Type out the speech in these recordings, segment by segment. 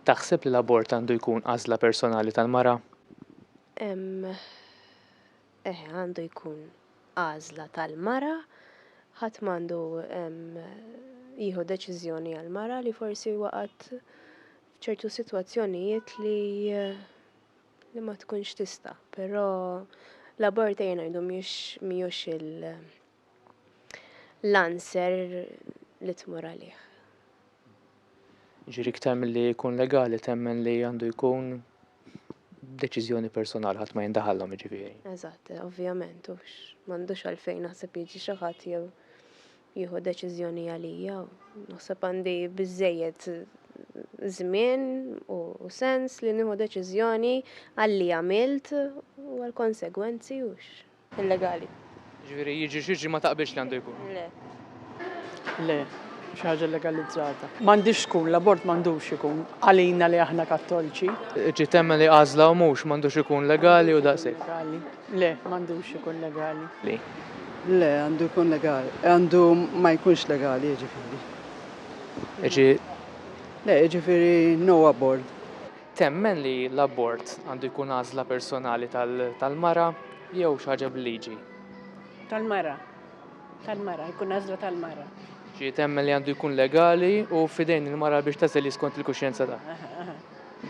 Taħseb li l-abort għandu jkun għażla personali tal-mara? Eh, għandu jkun għażla tal-mara, ħadd m'għandu jieħu deċiżjoni għal mara li forsi waqgħet f'ċertu sitwazzjonijiet li eh, li ma tkunx tista, però l-abort ejja ngħidu mhijiex l-answer li tmur għalih. Ġiri ktar milli jkun legali temmen li għandu jkun deċiżjoni personali ħadd ma jindaħallhom jiġifieri. Eżatt, ovvjament, hux m'għandux għalfejn naħseb jiġi xi ħadd jew jieħu deċiżjoni għalija. Naħseb għandi biżejjed żmien u sens li nieħu deċiżjoni għalli għamilt u għal konsegwenzi u illegali. Ġifieri jiġri x'jiġri ma taqbilx li għandu jkun? Le. Le, xi ħaġa legalizzata. M'għandix tkun, l-abort m'għandux ikun għalina li aħna Kattolċi. Ġiet hemm li għażla u mhux m'għandux ikun legali u daqshekk. Le, m'għandux ikun legali. Le, għandu jkun legali. Għandu ma jkunx legali, jiġifieri. Iġi. Le, jiġifieri no abort. Temmen li l-abort għandu jkun għażla personali tal-mara jew xi ħaġa bil-liġi? Tal-mara. Tal-mara, jkun għażla tal-mara. Ġi temmen li għandu jkun legali u f'idejn il-mara biex tagħżel hi skont il-kuxjenza tagħha.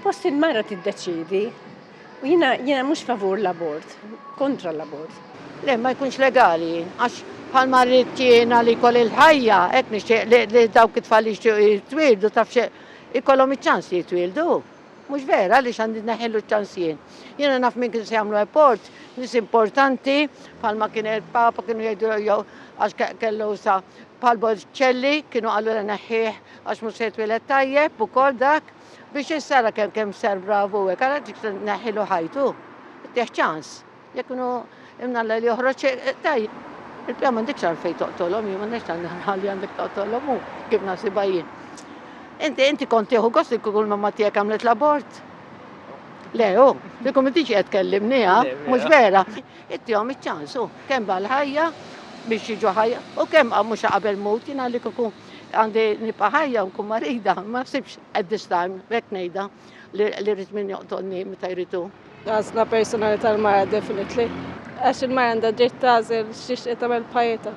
Post il-mara tiddeċiedi. U jiena jiena mhux favur l-abort, kontra l-abort. Le, ma jkunx legali, għax bħal ma rrid jiena li jkolli l-ħajja, hekk nixtieq li, li dawk it-tfal li jixtiequ jitwieldu taf xe ikollhom iċ-ċans li jitwieldu. Mhux vera għaliex għandi neħillu ċ-ċans jien. Jiena naf min kien se jagħmlu abort, nies importanti, bħal ma kien il-Papa kienu jgħidu jew għax kellu sa bħal Bolċelli kienu qalu neħħih Għax mhux se jitwieled tajjeb ukoll dak biex issara kemm kemm sar bravu hekk, ara dik se tneħħilu ħajtu. Tieħ ċans. Jekk inhu imnalla li joħroġ tajjeb. Il-pjan m'għandekx għalfejn toqtolhom, jien m'għandekx għandna li għandek toqtolhom hu kif nasibha jien. Inti inti kont tieħu gost li kull mamma tiegħek għamlet l-abort. Le, u, li kum inti qed kellimni, ha? Mhux vera. Ittihom iċ-ċans, u kemm bħal ħajja biex jiġu ħajja, u kemm mhux qabel mut jien għalik ikun Għandi nibqa' ħajja u nkun marida, ma naħsibx at this time, hekk ngħidha, li rrid min joqtolni meta jridu. Għażla personali tal-mara definitely. Għax il-mara għandha dritt tagħżel xiex qed tagħmel bħajjitha.